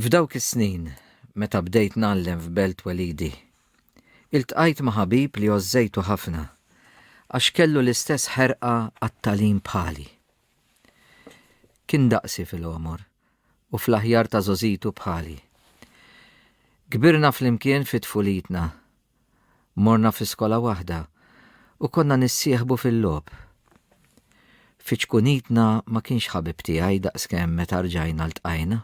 F'dawk is-snin, meta bdejt ngħallem f'Belt Twelidi, iltqajt ma' ħabib li għożżejtu ħafna għax kellu l-istess ħerqa għat-tagħlim bħali. Kien daqsi fil-għomor u fl-aħjar ta' żgħożitu bħali. Kbirna flimkien fi tfulitna. Morna fi skola waħda u konna nissieħbu fil-logħob. Fi ċkunitna ma kienx ħabib tiegħi daqskemm meta rġajna ltqajna.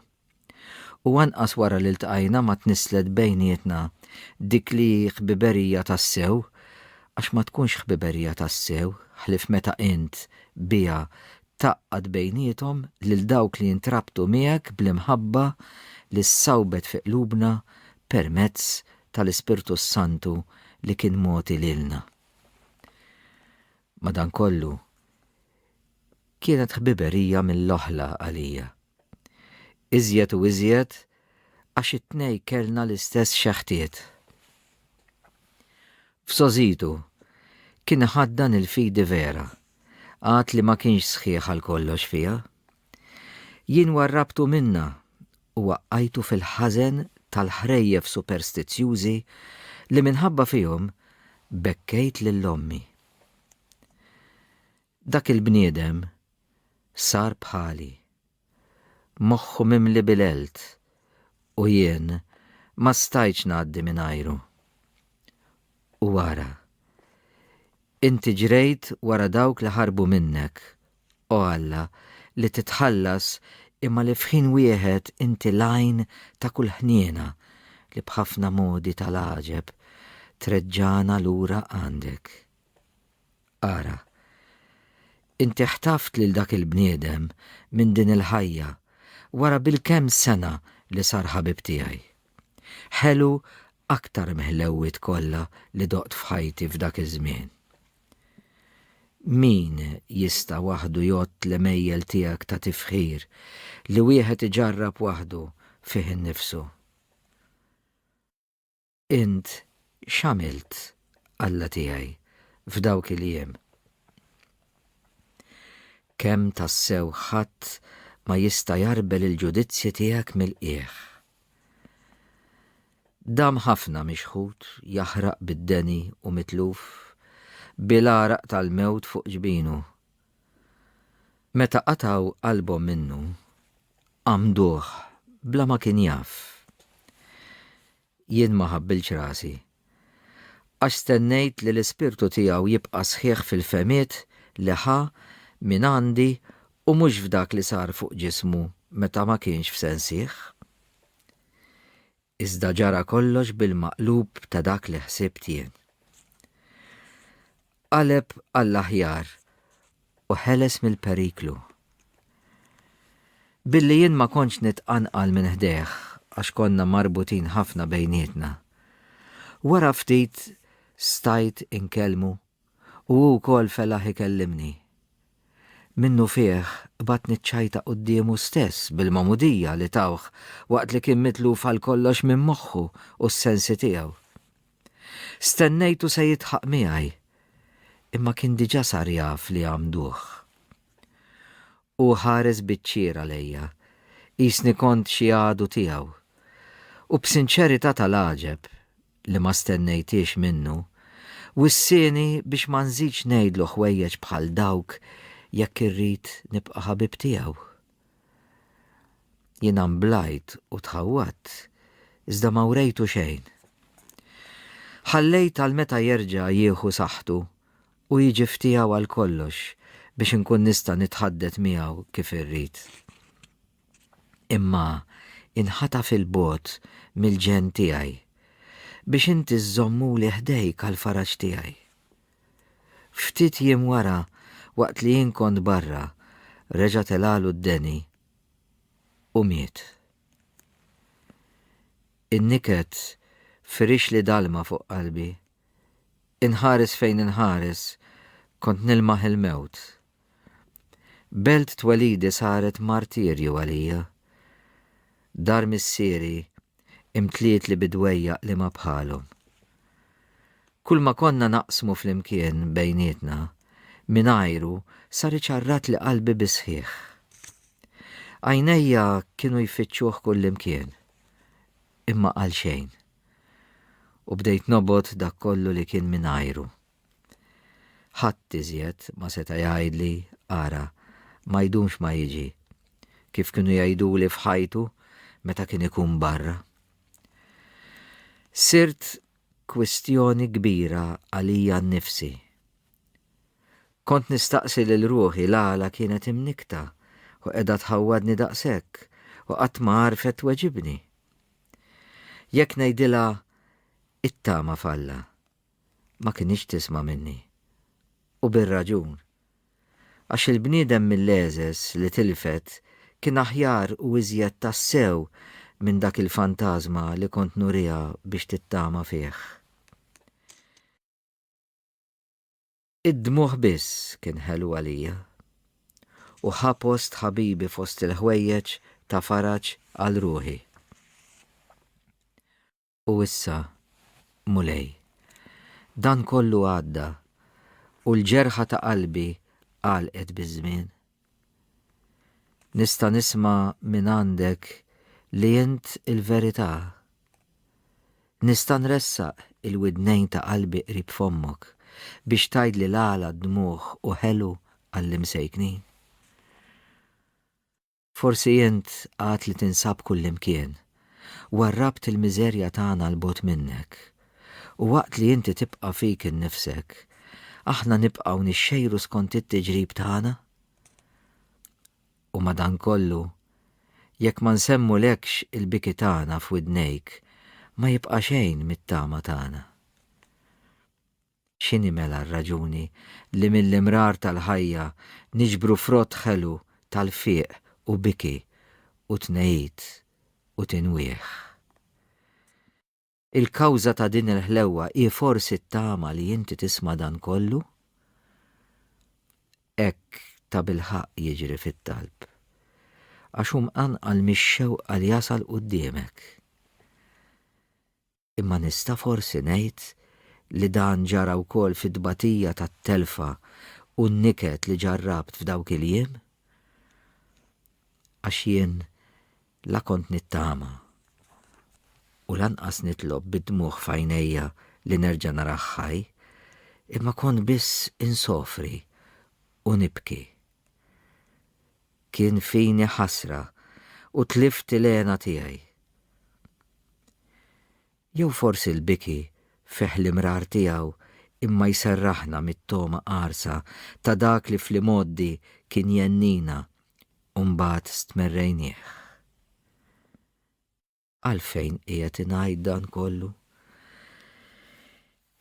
U anqas wara li ltqajna ma tnisslet bejnietna dik li hi ħbiberija tassew għax ma tkunx ħbiberija tassew ħlief meta int biha tgħaqqad bejniethom lil dawk li jintrabtu miegħek bl-imħabba li ssawbet fi qlubna permezz tal-Ispirtu s-Santu li kien mogħti lilna. Madankollu, kienet ħbiberija mill-oħla għalija Iżjed u iżjed għax it-tnej kellna l-istess xeħtiet. F'sogħżitu, kien iħaddan il-fidi vera, għad li ma kienx sħiħ għal kollox fiha. Jien warrabtu minnha u waqqajtu fil-ħażen tal-ħrejjef superstizzjużi li minħabba fihom bekkejt lil ommi. Dak il-bniedem sar bħali, moħħu mimli bil-għelt u jien ma stajtx ngħaddi mingħajru. U ara, inti ġrejt wara dawk li ħarbu minnek, o Alla, li titħallas imma li f'ħin wieħed inti l-għajn ta' kull ħniena li b'ħafna modi tal-għaġeb treġġagħna lura għandek. Ara, inti ħtaft lil dak il-bniedem minn din il-ħajja wara bil-kemm sena li sar ħabib tiegħi. Ħelu aktar miħlewwiet kollha li doqt f'ħajti f'dak iż-żmien. Min jista' waħdu jgħodd l-għemejjel tiegħek ta' tifħir li wieħed iġarrab waħdu fih innifsu? Int x'għamilt, Alla tiegħi, f'dawk il-jiem? Kemm tassew ħadd ma jista' jgħarbel il-ġudizzji tiegħek mill-qiegħ. Dam ħafna mixħut, jaħraq bid-deni u mitluf, bil-għaraq tal-mewt fuq ġbinu. Meta qatgħu qalbhom minnu, għamduh bla ma kien jaf. Jien ma ħabbiltx rasi. Għax stennejt li l-ispirtu tiegħu jibqa' sħiħ fil-fehmiet li ħa mingħandi u mhux f'dak li sar fuq ġismu meta ma kienx f'sensih. Iżda ġara kollox bil-maqlub ta' dak li ħsibt jien. Qaleb għall-aħjar u ħeles mill-periklu. Billi jien ma kontx nitqanqal minn ħdejh għax konna marbutin ħafna bejnietna. Wara ftit stajt inkellmu u hu wkoll felaħ ikellimni. Minnufih qbadt niċċajta quddiemu stess bil-magħmudija li tawh waqt li kien mitluf għalkollox minn moħħu u s-sensi tiegħu. Stennejtu se jidħaq miegħi, imma kien diġà sar jaf li għammduh. Hu ħares biċ-ċir għalejja, qisni kont xi għadu tiegħu, u b'sinċerità tal-għaġeb, li ma stennejthiex minnu, wissieni biex ma nżidx ngħidlu ħwejjeġ bħal dawk jekk irrid nibqa' ħabib tiegħu. Jien amblajt u tħawwadt, iżda ma wrejtu xejn. Ħallejt għal meta jerġa' jieħu saħħtu u jiġi f'tiegħu għal kollox biex inkun nista' nitħaddet miegħu kif irrid. Imma inħataf 'il bogħod mill-ġenn tiegħi, biex inti żżommuli ħdejk għall-faraġ tiegħi. Ftit jiem wara, waqt li jien kont barra, reġa' telgħalu d-deni u miet. In-niket firixli dalma fuq qalbi. Inħares fejn inħares, kont nilmaħ il-mewt. Belt twelidi saret martirju għalija. Dar missieri imtlietli bi dwejjaq li ma bħalhom. Kulma konna naqsmu flimkien bejnietna, mingħajru sar iċarratli qalbi bis-sħiħ. Għajnejja kienu jfittxuh kullimkien, imma għalxejn. U bdejt nobgħod dak kollu li kien mingħajru. Ħadd iżjed ma seta' jgħidli, Ara, ma jdumx ma jiġi, kif kienu jgħiduli f'ħajtu meta kien ikun barra. Sirt kwistjoni kbira għalija nnifsi. Kont nistaqsi lil ruħi l-għala kienet imnikkta u qiegħda tħawwadni daqshekk u qatt ma għarfet tweġibni. Jekk ngħidilha it-tama f'Alla, ma kinitx tisma' minni. U bir-raġun. Għax il-bniedem mil-għeżeż li tilfet kien aħjar u iżjed tassew minn dak il-fantażma li kont nuriha biex tittama fih. Id-dmugħ biss kien ħelu għalija. U ħa post ħabibi fost il-ħwejjeġ ta' faraġ għal ruħi. U issa, Mulej, dan kollu għadda u l-ġerħa ta' qalbi għalqet biż-żmien. Nista' nisma' minn għandek li int il-verità. Nista' nressaq il-widnejn ta' qalbi qrib fommok biex tgħidli l-għala dmugħ u ħelu għall-imsejknin. Forsi int għad li tinsab kullimkien, warrabt il-miżerja tagħna 'l bogħod minnek. U waqt li inti tibqa' fik innifsek, aħna nibqgħu nixxejru skont it-tiġrib tagħna? U madankollu, jekk ma nsemmulekx il-biki tagħna f'widnejk, ma jibqa' xejn mit-tama tagħna. X'inhi mela r-raġuni li mill-imrar tal-ħajja niġbru frott ħelu tal-fiq u biki u tnegħid u tinwieh? Il-kawża ta' din il-ħlewwa hi forsi t-tama li inti tisma' dan kollu? Hekk tabilħaqq jiġri fit-talb. Għax hu mqanqal mix-xewqa li jasal quddiemek. Imma nista' forsi ngħid li dan ġara wkoll fit-tbatija tat-telfa u n-niket li ġarrabt f'dawk il-jiem? Għax jien la kont nittama u lanqas nitlob bid-dmugħ f'għajnejja li nerġa' narah ħaj, imma kont biss insofri u nibki. Kien fini ħasra u tlift il-hena tiegħi. Jew forsi l-biki fih l-imrar tiegħu imma jserraħna mit-togħma qarsa ta' dak li fl-imgħoddi kien jhennina u mbagħad stmerrejnieh. Għalfejn qiegħed ingħid dan kollu?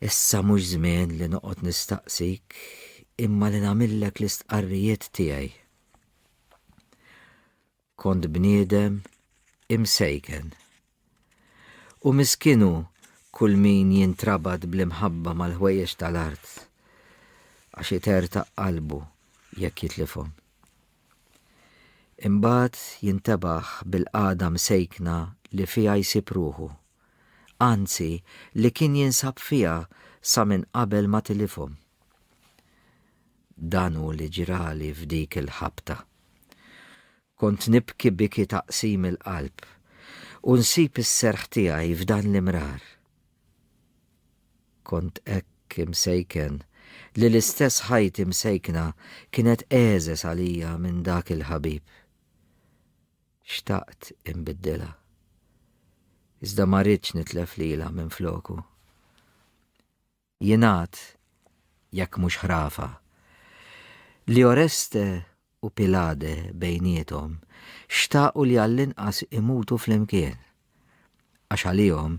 Issa mhux żmien li noqgħod nistaqsik imma li nagħmillek l-istqarrijiet tiegħi. Kont bniedem imsejken. U miskinu kull min jintrabat bl-imħabba mal-ħwejjeġ tal-art għax itertaq qalbu jekk jitlifhom. Imbagħad jintebaħ bil-qagħda msejkna li fiha jsib ruħu. Anzi, li kien jinsab fiha sa minn qabel ma tilifhom. Dan hu li ġrali f'dik il-ħabta. Kont nibki biki taqsim il-qalb u nsib is-serħ tiegħi f'dan l-imrar. Kont hekk imsejken li l-istess ħajti msejkna kienet eżes għalija minn dak il-ħabib. Xtaqt inbiddilha. Iżda ma ridtx nitlef lilha minfloku. Jingħad, jekk mhux ħrafa, li Oreste u Pilade bejniethom xtaqu li għall-inqas imutu flimkien, għax għalihom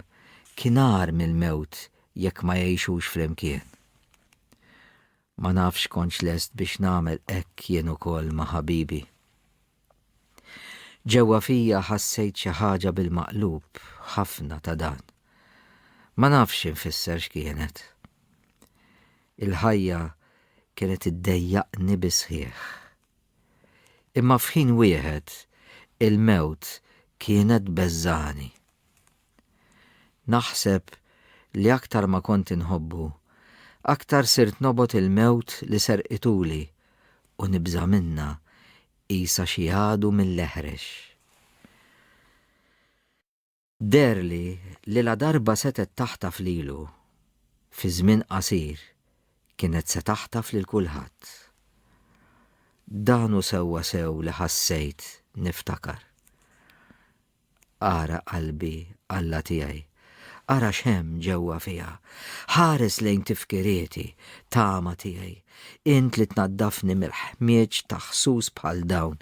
kien agħar mill-mewt jekk ma jgħixux flimkien. Ma nafx kontx lest biex nagħmel hekk jien ukoll ma' ħabibi. Ġewwa fija ħassejt xi ħaġa bil-maqlub ħafna ta' dan. Ma nafx infisser x'kienet. Il-ħajja kienet iddejjaqni bis-sħiħ. Imma f'ħin wieħed il-mewt kienet tbeżżagħni. Naħseb li aktar ma kont inħobbu, aktar sirt nobgħod il-mewt li serqituli u nibża' minnha qisha xi għadu mill-eħrex. Deherli li ladarba setgħet taħtaf lilu, fi żmien qasir kienet se taħtaf lil kulħadd. Dan hu sewwa sew li ħassejt niftakar. Ara qalbi, Alla tiegħi, ara x'hemm ġewwa fiha. Ħares lejn tifkirieti, tama tiegħi, Int li tnaddafni mill-ħmieġ ta' ħsus bħal dawn,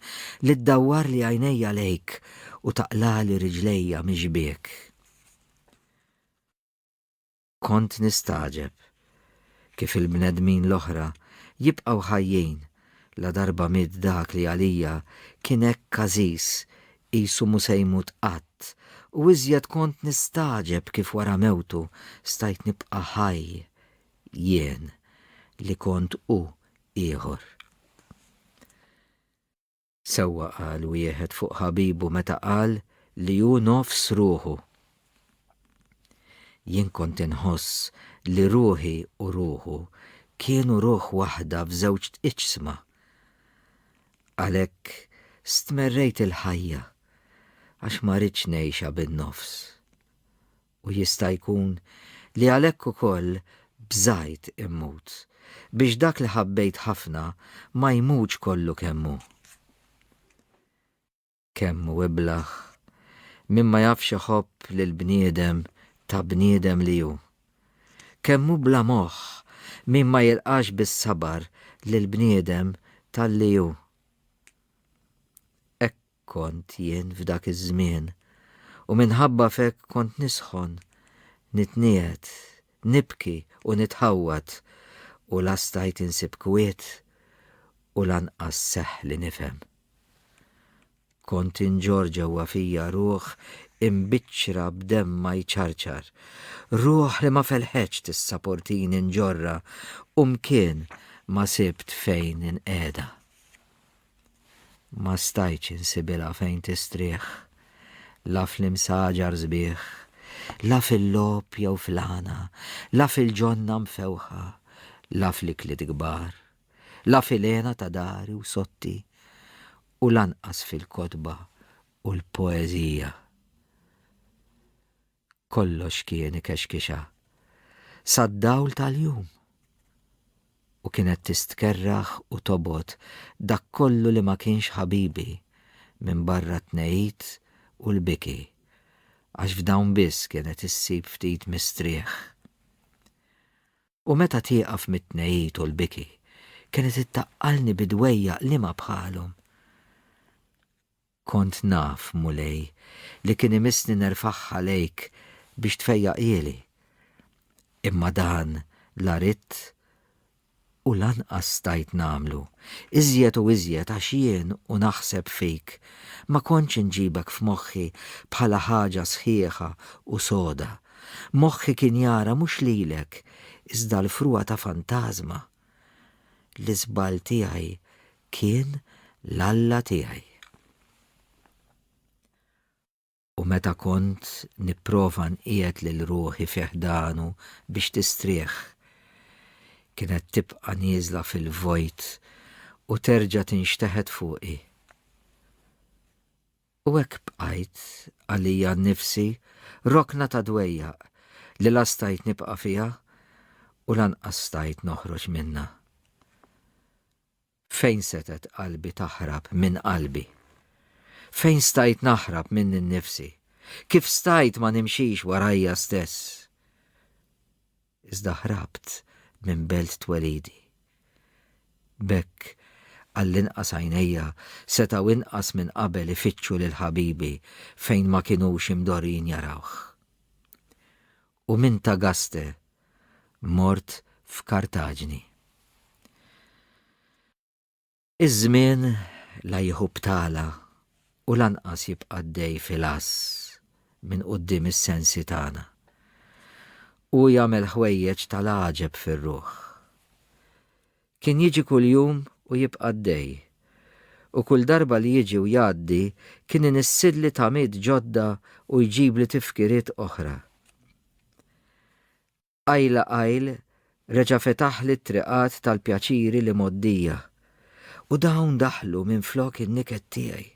li ddawwarli għajnejja lejk u taqlagħli riġlejja mix-xbiek. Kont nistagħġeb kif il-bnedmin l-oħra jibqgħu ħajjin ladarba miet dak li għalija kien hekk għażiż, qisu mhu se jmut qatt, u iżjed kont nistagħġeb kif wara mewtu stajt nibqa' ħaj Jien, li kont hu ieħor. Sewwa qal wieħed fuq ħabibu meta qal li hu nofs ruħu. Jien kont inħoss li ruħi u ruħu kienu ruħ waħda f'żewġ iġsma. Għalhekk stmerrejt il-ħajja għax ma ridtx ngħixha bin-nofs. U jista' jkun li għalhekk ukoll bżajt immut, biex dak li ħabbejt ħafna ma jmutx kollu kemm hu. Kemm hu iblah min ma jafx iħobb lill-bniedem ta' bniedem li hu! Kemm hu bla moħħ min ma jilqax bis-sabar lill-bniedem talli hu! Hekk Kont jien f'dak iż-żmien, u minħabba f'hekk kont nisħon, nitniegħed, nibki u nitħawwad, u la stajt insib kwiet u lanqas seħħ li nifhem. Kont inġorr ġewwa fija ruħ imbiċċra b'demm ma jċarċar, ruħ li ma felħetx tissaportini nġorrha u mkien ma sibt fejn inqiegħda. Ma stajtx insibilha fejn tistrieħ, la fl-imsaġar sbieħ, la fil-logħob jew fl-għana, la fil-ġonna mfewħa, la fl-ikliet kbar, la fil-hena ta' dari u sotti, u lanqas fil-kotba u l-poeżija. Kollox kien ikexkixha sad-dawl tal-jum u kienet tistkerrah u tobgħod dak kollu li ma kienx ħabibi minbarra t-tnegħid u l-biki għax f'dawn biss kienet issib ftit mistrieħ. U meta tieqaf mit-tnegħid u l-biki kienet ittaqqalni bi dwejjaq liema bħalhom. Kont naf, Mulej, li kien imissni nerfagħha lejk biex tfejjaqhieli. Imma dan la ridt u lanqas stajt nagħmlu, iżjed u iżjed għax jien u naħseb fik ma kontx inġibek f'moħħi bħala ħaġa sħiħa u soda. Moħħi kien jara mhux lilek iżda l-frugħa ta' fantażma. L-iżball tiegħi kien l-Alla tiegħi. U meta kont nipprova nqiegħed lil ruħi fi ħdanu biex tistrieħ, kienet tibqa' nieżla fil-vojt u terġa' tinxteħet fuqi. U hekk bqajt, għalija nnifsi, rokna ta' dwejjaq li la stajt nibqa' fiha u lanqas stajt noħroġ minnha. Fejn setgħet qalbi taħrab minn qalbi? Fejn stajt naħrab minni nnifsi? Kif stajt ma nimxix warajja stess? iżda ħrabt minn belt twelidi. B'hekk, għall-inqas għajnejja setgħu inqas minn qabel ifittxu lil ħabibi fejn ma kinux imdorrijin jarawh. U minn Tagaste mort f'Kartaġni. Iż-żmien la jieħu btala u lanqas jibqa' għaddej fil-għażż minn quddiem is-sensi tagħna. Hu jagħmel ħwejjeġ tal-għaġeb fir-ruħ. Kien jiġi kuljum u jibqa' għaddej, u kull darba li jiġi u jgħaddi kien inissidli tamiet ġodda u jġibli tifkiriet oħra. Qajla qajl reġa' fetaħli t-triqat tal-pjaċiri li mgħoddija, u dawn daħlu minflok in-niket tiegħi.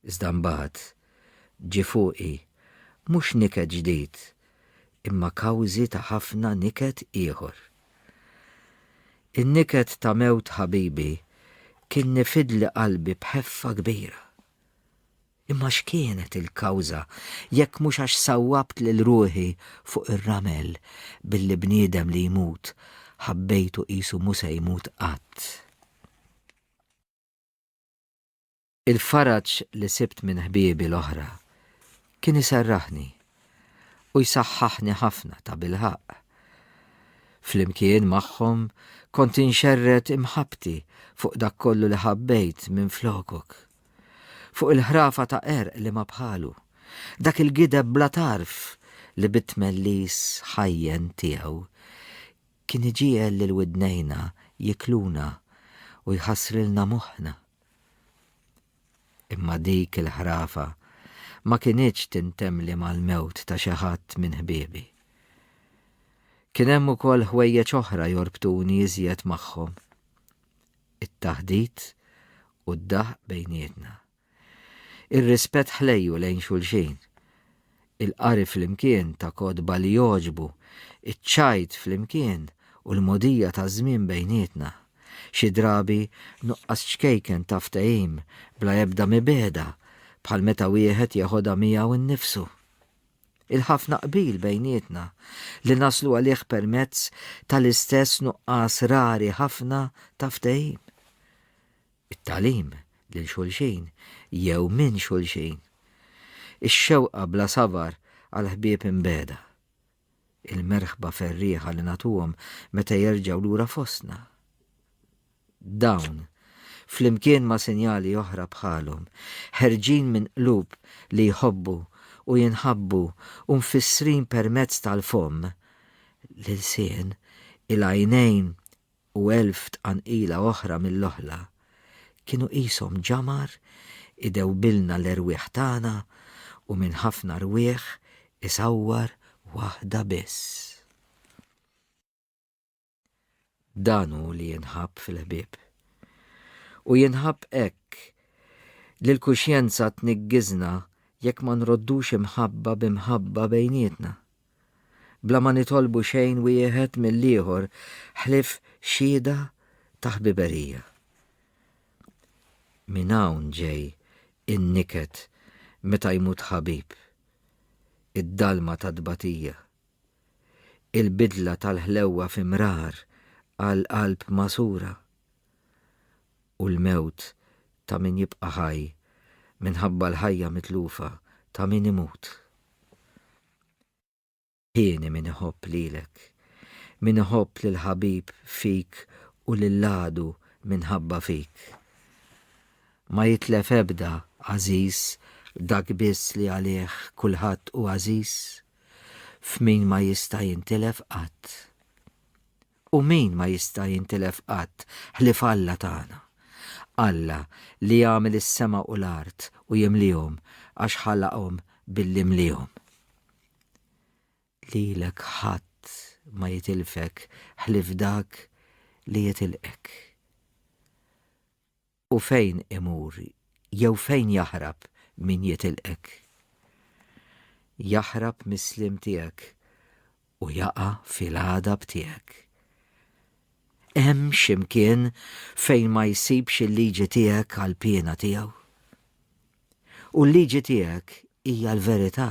Iżda mbagħad ġie fuqi mhux niket ġdid, imma kawżi ta' ħafna niket ieħor. In-niket ta' mewt ħabibi kien nifidli qalbi b'ħeffa kbira. Imma x'kienet il-kawża jekk mhux għax sawwabt lil ruħi fuq ir-ramel billi bniedem li jmut ħabbejtu qisu mhu se jmut qatt. Il-faraġ li sibt minn ħbiebi l-oħra kien iserraħni u jsaħħaħni ħafna tabilħaqq. Flimkien magħhom kont inxerred imħabbti fuq dak kollu li ħabbejt minflokok. Fuq il-ħrafa ta' qerq li ma bħalu, dak il-gideb bla tarf li bit-tmellis ħajjen tiegħu kien iġiegħel lil widnejna jikluna u jħassrilna moħħna. Imma dik il-ħrafa ma kinitx tintemli mal-mewt ta' xi ħadd minn ħbiebi. Kien hemm ukoll ħwejjeġ oħra jorbtuni iżjed magħhom. it-taħdit u d-daħq bejnietna. Ir-rispett ħlejju lejn xulxin, il-qari flimkien ta' kotba li jogħġbu, iċ-ċajt flimkien u l-mogħdija taż-żmien bejnietna, xi drabi nuqqas ċkejken ta' ftehim bla ebda mibegħda bħal meta wieħed jeħodha miegħu nnifsu. Il-ħafna qbil bejnietna li naslu għalih permezz tal-istess nuqqas rari ħafna ta' ftehim. It-tagħlim lil xulxin jew minn xulxin. Ix-xewqa bla sabar għal ħbieb imbegħda. Il-merħba ferrieħa li nagħtuhom meta jerġgħu lura fostna. Dawn, flimkien ma' sinjali oħra bħalhom, ħerġin minn qlub li jħobbu u jinħabbu u mfissrin permezz tal-fomm, l-ilsien, il-għajnejn u elf tqanqila oħra mill-oħla, kienu qishom ġamar idewbilna l-erwieħ tagħna u minn ħafna rwieħ isawwar waħda biss. Dan hu li jinħabb fil-ħbieb. U jinħabb hekk li l-kuxjenza tniggiżna jekk ma nroddux imħabba b'imħabba bejnietna. Bla ma nitolbu xejn wieħed mill-ieħor ħlief xhieda ta' ħbiberija. Minn hawn ġej in-niket meta jmut ħabib, id-dalma tat-tbatija il-bidla tal-ħlewwa fi mrar għal qalb magħsura, u l-mewt ta' min jibqa' ħaj minħabba l-ħajja mitlufa ta' min imut. Hieni min iħobb lilek, min iħobb lill-ħabib fik u lill-għadu minħabba fik. Ma jitlef ebda għażiż dak biss li għalih kulħadd hu għażiż. f'min ma jista' jintilef qatt. U min ma jista' jintilef qatt ħlief Alla tagħna? Alla li għamel is-sema u l-art u jimliehom għax ħalaqhom billi mliehom. Lilek ħadd ma jitilfek ħlief dak li jitilqek. u fejn imur jew fejn jaħrab min jitilqek. Jaħrab mis-sliem tiegħek u jaqa' fil-għadab tiegħek. Hemm x'imkien fejn ma jsibx il-liġi tiegħek għall-piena tiegħu? U l-liġi tiegħek hija l-verità.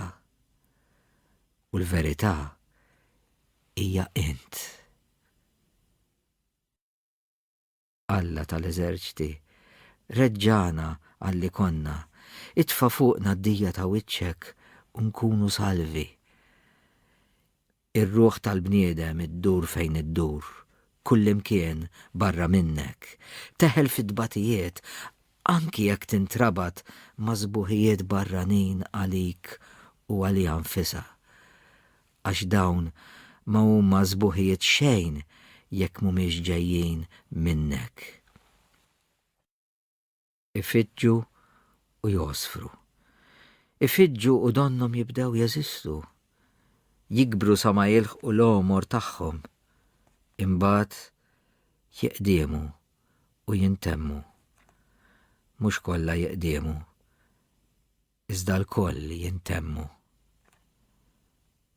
U l-verità hija int. Alla tal-eżerċti, reġġagħna għal li konna, itfa' fuqna d-dija ta' wiċċek u nkunu salvi. Ir-ruħ tal-bniedem iddur fejn iddur, kullimkien barra minnek, teħel fit-tbatijiet anki jekk tintrabat ma' sbuħijiet barranin għalik u għaliha nfisha. għax dawn ma huma sbuħijiet xejn jekk mhumiex ġejjin minnek. Ifiġġu u jgħosfru. Ifiġġu u donnhom jibdew jeżistu. Jikbru sa ma jilħqu l-għomor tagħhom. Imbagħad jiqdiemu u jintemmu. Mhux kollha jiqdiemu. iżda lkoll li jintemmu.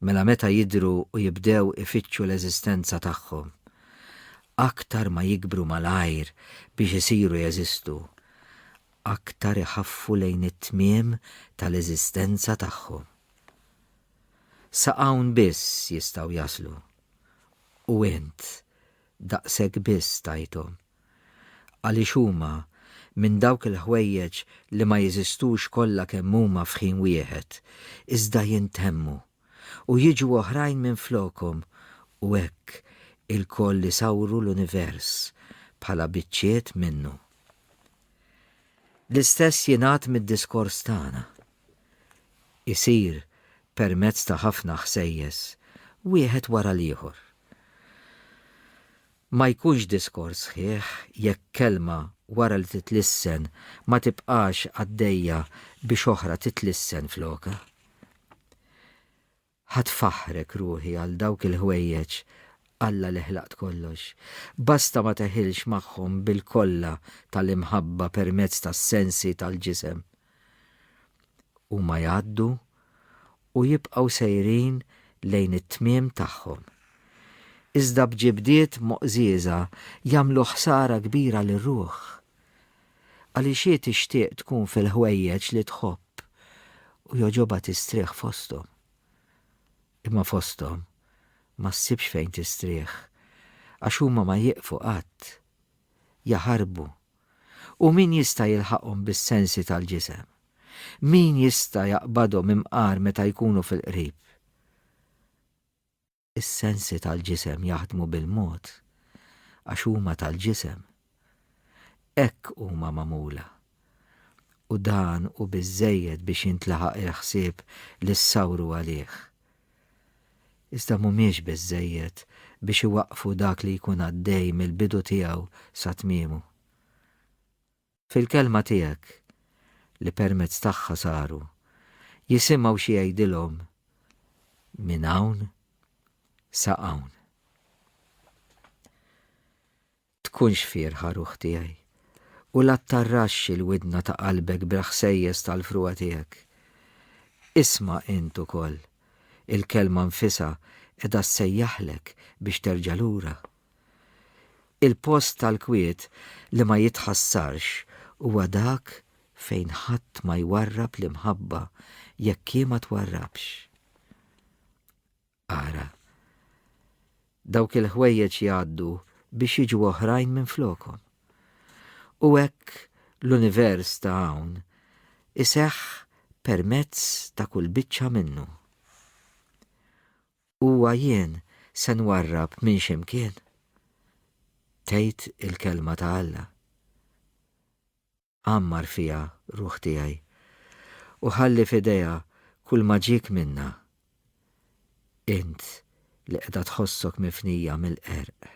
Mela meta jidhru u jibdew ifittxu l-eżistenza tagħhom, aktar ma jikbru malajr biex isiru jeżistu, aktar iħaffu lejn it-tmiem tal-eżistenza tagħhom. Sa hawn biss jistgħu jaslu, u int daqshekk biss tajthom Għaliex huma, minn dawk il-ħwejjeġ li ma jeżistux kollha kemm huma f'ħin wieħed, iżda jintemmu, u jiġu oħrajn minflokhom, u hekk ilkoll isawru l-univers bħala biċċiet minnu. L-istess jingħad mid-diskors tagħna. Isir permezz ta' ħafna ħsejjes, wieħed wara l-ieħor. Ma jkunx diskors sħiħ jekk kelma wara li titlissen ma tibqax għaddejja biex oħra titlissen flokha. Ħadd faħħrek ruħi għal dawk il-ħwejjeġ Alla li ħlaqt kollox. Basta ma teħilx magħhom bil-kolla tal-imħabba permezz tas-sensi tal-ġisem. Huma jgħaddu u jibqgħu sejrin lejn it-tmiem tagħhom. Iżda b'ġibdiet moqżieża jagħmlu ħsara kbira lir-ruħ. Għaliex hi tixtieq tkun fil-ħwejjeġ li tħobb u jogħġobha tistrieħ fosthom. Imma fosthom ma ssibx fejn tistrieħ għax huma ma jieqfu qatt. Jaħarbu U min jista' jilħaqhom bis-sensi tal-ġisem? Min jista' jaqbadhom imqar meta jkunu fil-qrib? Is-sensi tal-ġisem jaħdmu bil-mod għax huma tal-ġisem. Hekk huma magħmula. U dan hu biżżejjed biex jintlaħaq il-ħsieb li ssawru għalih. iżda mhumiex biżżejjed biex iwaqqfu dak li jkun għaddej mill-bidu tiegħu sa tmiemu. Fil-Kelma tiegħek, li permezz tagħha saru, jisimgħu xi jgħidilhom minn hawn sa hawn. Tkunx fierħa ruħ tiegħi, u la ttarraxx il-widna ta' qalbek bil-ħsejjes tal-frugħa tiegħek. Isma' int ukoll, il-Kelma nfisha qiegħda ssejjaħlek biex terġa' lura. Il-post tal-kwiet li ma jitħassarx huwa dak fejn ħadd ma jwarrab l-imħabba jekk hi ma twarrabx. Ara, dawk il-ħwejjeġ jgħaddu biex jiġu oħrajn minn flokom. U hekk l-univers ta' hawn iseħħ permezz ta' kull biċċa minnu. Huwa jien se nwarrab minn ximkien. Tgħid il-kelma ta' Alla. għammar fiha, Ruħ Tiegħi, u ħalli f'idejha kulma ġiek minnha. Int li qiegħda tħossok mifnija mill-qerq.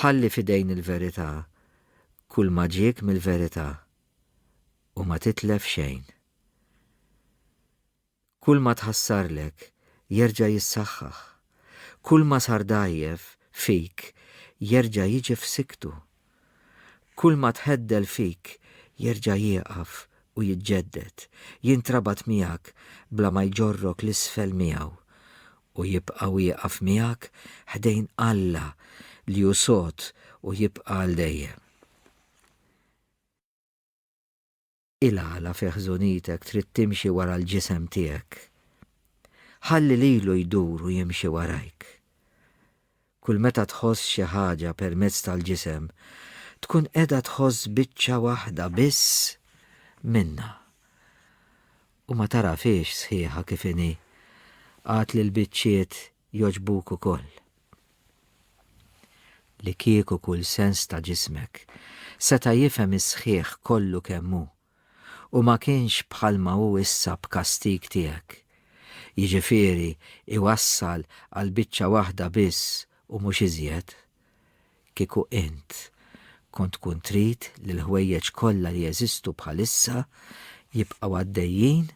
Ħalli f'idejn il-verità kulma ġiek mill-verità u ma titlef xejn. Kulma tħassarlek, jerġa' jissaħħaħ. Kulma sar dgħajjef, fik, jerġa' jiġi f'sikktu. Kulma tħeddel fik, jerġa' jieqaf u jiġġedded, jintrabat miegħek bla ma jġorrok 'l isfel miegħu, u jibqa' wieqaf miegħek ħdejn Alla li hu sod u jibqa' għal dejjem. Ilgħala fi ħżunitek trid timxi wara l-ġisem tiegħek? Ħalli lilu jdur u jimxi warajk. Kull meta tħoss xi ħaġa permezz tal-ġisem, tkun qiegħda tħoss biċċa waħda biss minnha. U ma tarafiex sħiħa kif inhi. Għad li l-biċċiet jogħġbuk ukoll. Li kieku kull sens ta' ġismek seta' jifhem is-sħiħ kollu kemm hu u ma kienx bħalma hu issa b'kastig tiegħek, jiġifieri jwassal għal biċċa waħda biss u mhux iżjed, Kieku int kont tkun trid li l-ħwejjeġ kollha li jeżistu bħalissa jibqgħu għaddejjin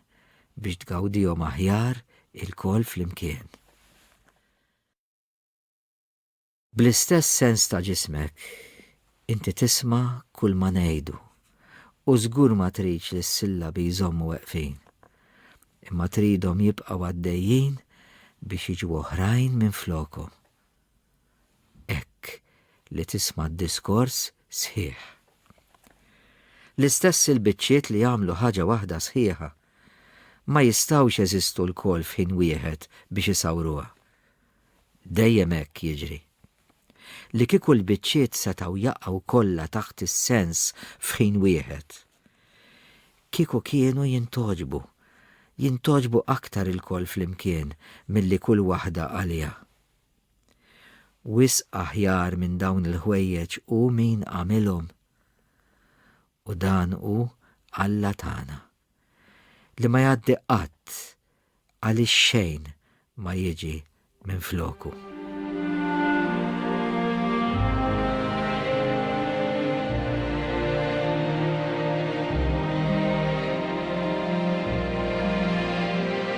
biex tgawdihom aħjar ilkoll flimkien. Bl-istess sens ta' ġismek, inti tisma' kulma ngħidu u żgur ma tridx li s-sillabi jżommu weqfin, imma tridhom jibqgħu għaddejjin biex jiġu oħrajn minflokhom. hekk li tisma' d-diskors sħiħ. L-istess il-biċċiet li jagħmlu ħaġa waħda sħiħa ma jistgħux jeżistu lkoll f'ħin wieħed biex isawruha. Dejjem hekk jiġri. Li kieku l-biċċiet setgħu jaqgħu kollha taħt is-sens f'ħin wieħed, kieku kienu jintogħġbu, jintogħġbu aktar ilkoll flimkien milli kull waħda għaliha. Wisq aħjar minn dawn il-ħwejjeġ hu min għamilhom, u dan hu Alla tagħna, li ma jgħaddi qatt għaliex xejn ma jiġi minfloku.